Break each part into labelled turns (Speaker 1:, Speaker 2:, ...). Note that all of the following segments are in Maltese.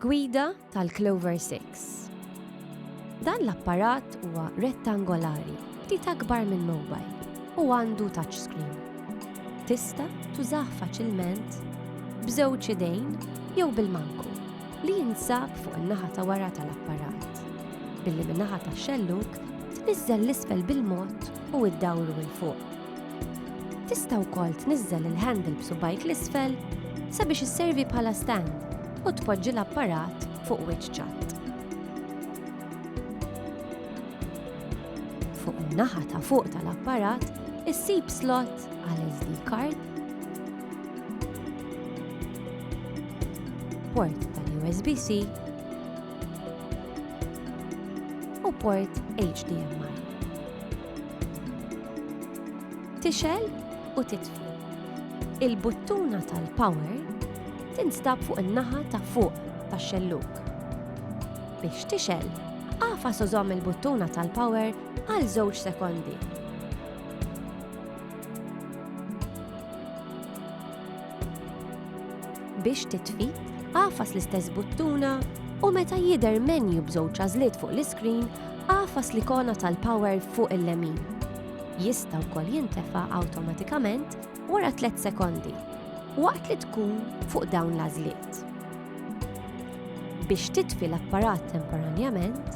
Speaker 1: Gwida tal-Clover 6 Dan l-apparat huwa rettangolari, ftit akbar minn mobile, u għandu touchscreen. Tista' tużah faċilment b'żewġ idejn jew bil-manku li jinsab fuq in-naħa ta' wara tal-apparat, billi min-naħa tax-xellug tniżżel l-isfel bil-mod u iddawru 'l fuq. Tista' wkoll tniżżel il-handle b'subgħajk l-isfel sabiex isservi bħala stand u tpoġġi l-apparat fuq wiċċ ċatt. Fuq in-naħa ta' fuq tal-apparat issib slot għal SD card, port tal-USB-C u port HDMI. Tixgħel u titfi. Il-buttuna tal-power tinstab fuq in-naħa ta' fuq tax-xellug. Biex tixgħel, għafa sożomm il-buttuna tal-power għal żewġ sekondi. Biex titfi, agħfas l-istess buttuna u meta jidher menju b'żewġ għażliet fuq l-iskrin, agħfas l-ikona tal-power fuq il-lemin. Jista' wkoll jintefa' awtomatikament wara tliet sekondi waqt li tkun fuq dawn l-għażliet. Biex titfi l-apparat temporanjament,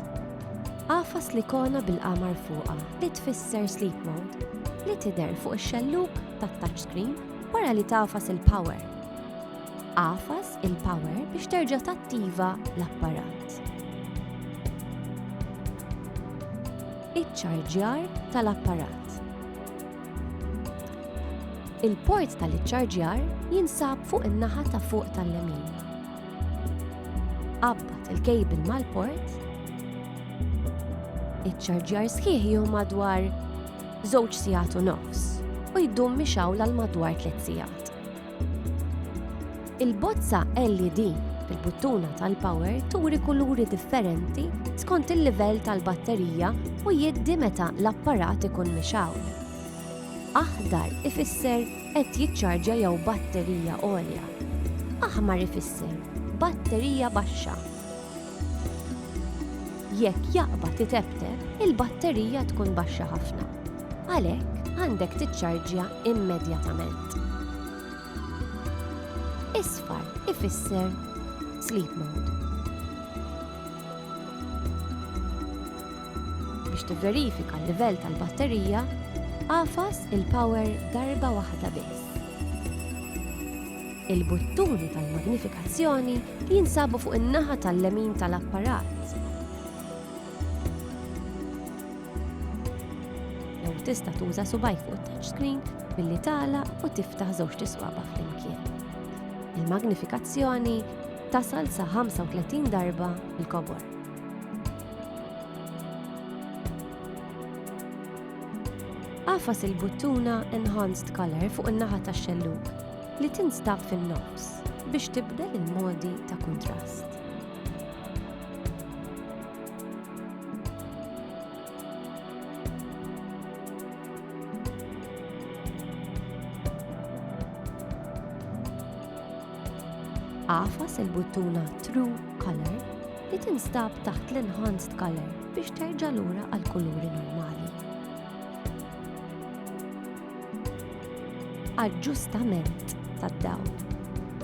Speaker 1: agħfas l-ikona bil-qamar fuqha li tfisser Sleep Mode li tidher fuq ix-xellug tat-touchscreen. Wara li tafas il-power. Għafas il-power biex terġa' tattiva l-apparat. Iċ-ċarġjar tal-apparat. Il-port tal-iċċarġjar jinsab fuq in-naħa ta' fuq tal-lemin. Qabbat il-kejbil mal-port. Iċ-ċarġjar sħiħ jieħu madwar żewġ sigħat u nofs u jdum mixawl għal madwar tliet sigħat. Il-bozza LED bil-buttuna tal-power turi kuluri differenti skont il-livell tal-batterija u jiddi meta l-apparat ikun mixaw. Aħdar ifisser qed jiċċarġja jew batterija għolja. Aħmar ifisser batterija baxxa. Jekk jaqbad itebteb, il-batterija tkun baxxa ħafna. Għalhekk, għandek tiċċarġja immedjatament. Isfar ifisser sleep mode. Biex tivverifika l-livell tal-batterija, għafas il-power darba waħda biss. Il-buttuni tal-magnifikazzjoni jinsabu fuq in-naħa tal-lemin tal-apparat. Jew tista' tuża subajk fuq it-touchscreen billi tala u tiftaħ żewġt iswaba flimkien. Il-magnifikazzjoni tasal sa 35 darba l-kobor. Għafas il-buttuna Enhanced Color fuq in-naħa tax-xellug li tinstab fin-nofs biex tibdel il-modi ta' kuntrast. Għafas il-buttuna True Color li tinstab taħt l-Enhanced Color biex terġa' lura għal kuluri normali. Aġġustament tad-dawl.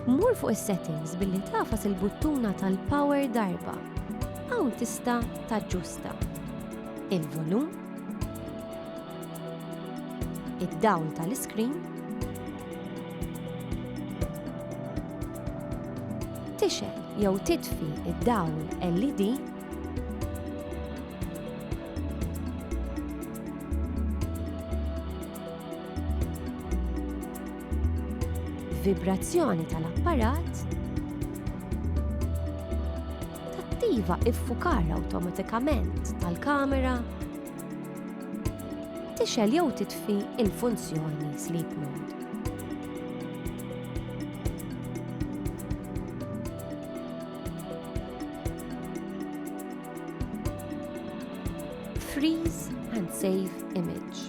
Speaker 1: Mur fuq is-settings billi tagħfas il-buttuna tal-power darba. Hawn tista' taġġusta il-volum, id-dawl tal-iskrin, tixgħel jew titfi id-dawl LED vibrazzjoni tal-apparat tattiva iffukar awtomatikament tal-kamera tixel jew titfi il-funzjoni sleep mode. Freeze and Save Image.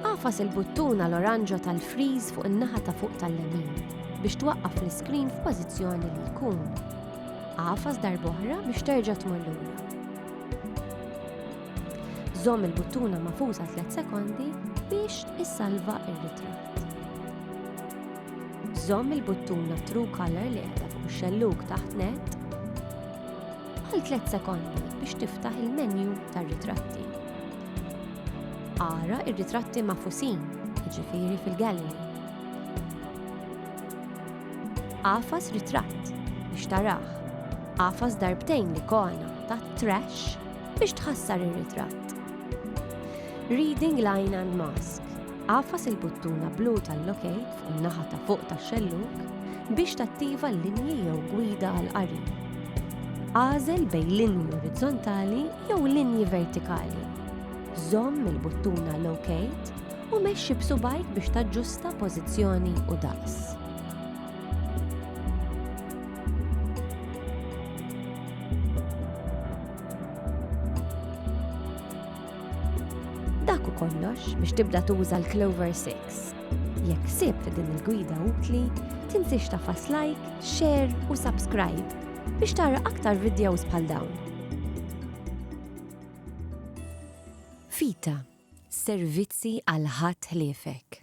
Speaker 1: Għafas il-buttuna l-oranġa tal-freeze fuq in-naħa ta' fuq tal-lemin biex twaqqaf l-iskrin f'pożizzjoni li jkun. Għafas darboħra biex terġa' tmur lura. Żomm il-buttuna mafusa 3 sekondi biex issalva ir-ritratt. Żomm il-buttuna True Color li qiegħda fuq ix-xellug taħt net Għal 3 sekondi biex tiftaħ il-menju tar-ritratti. Ara ir-ritratti mafusin, ġifiri fil-gallery. Għafas ritratt biex taraħ. Għafas darbtejn li kona ta' trash biex tħassar ir-ritratt. Reading line and mask Agħfas il-buttuna blu tal-Locate fuq in-naħa ta' fuq tax-xellug biex tattiva l-linji jew gwida għall-qari. Agħżel bejn linji orizzontali jew linji vertikali. Żomm il-buttuna Locate u mexxi b'subgħajk biex taġġusta pożizzjoni u daqs. Dak u kollox biex tibda tuża l-Clover 6. Jekk sib din il-gwida utli, tinsiex tafas like, share u subscribe biex tara aktar videos bħal dawn. Fita, servizzi għal ħadd ħliefek.